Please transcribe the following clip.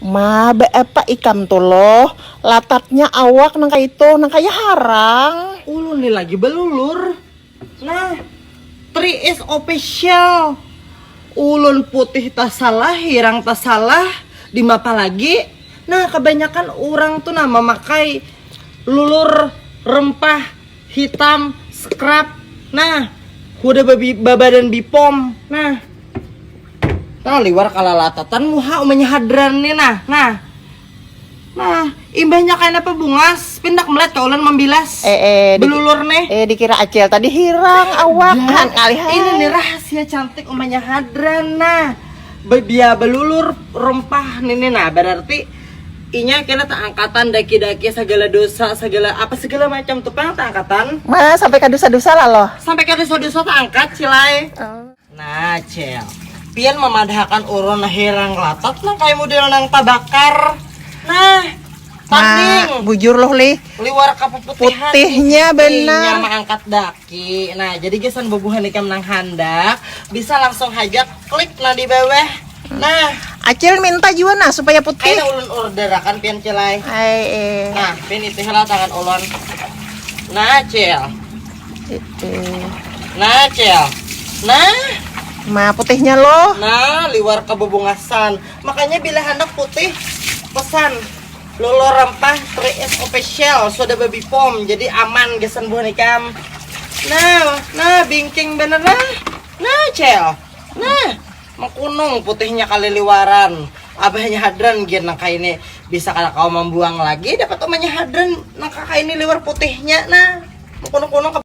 Ma, beapa ikam tu loh, latatnya awak nang kaitu, nang kaya harang. Ulun ni lagi belulur. Nah, Three is official. Ulun putih tasalah, hirang tasalah, dimapa lagi. Nah, kabanyakan urang tu nah mamakai lulur rempah. hitam scrap nah kuda babi babadan bipom nah nah liwar kalalatatan muha umanya hadran nih nah nah Nah, imbahnya kayak apa bungas, pindak melihat ke ulun membilas. Eh, eh, belulur nih. Eh, dikira acil tadi hirang awak kan kali Ini nih rahasia cantik umanya hadran. Nah, dia belulur rempah nih nah berarti Inya kena taangkatan daki-daki sagala dosa sagala apa segala macam tu pang taangkatan. Mana sampai ka dosa-dosa lah loh. Sampai ka dosa-dosa taangkat cilai. Oh. Nah cel, pian mamadhakan urun hirang latat nang kaya mudel nang tabakar. Nah, tanding. Nah, bujur loh lih. Liwar kapuputihan. Putihnya benar. Inya maangkat dak. Oke, nah jadi gasan bubuhan ikam nang handak bisa langsung haja klik nang di bawah. Nah, Acil minta juga nah supaya putih. Ayo ulun order akan pian cilai. Ay, eh. Nah, pian itu lah tangan ulun. Nah, cil. Nah, cil. Nah. Nah, putihnya loh. Nah, liwar kebubungasan. Makanya bila handak putih pesan Lolo Rempah 3S Official sudah babi pom jadi aman gasan buah nikam. Nah, nah bingking bener nah. Nah, cel. Nah, mengkunung putihnya kali liwaran. Abahnya hadran gir nang ini bisa kada kau membuang lagi dapat umanya hadran nang ini liwar putihnya nah. Mengkunung-kunung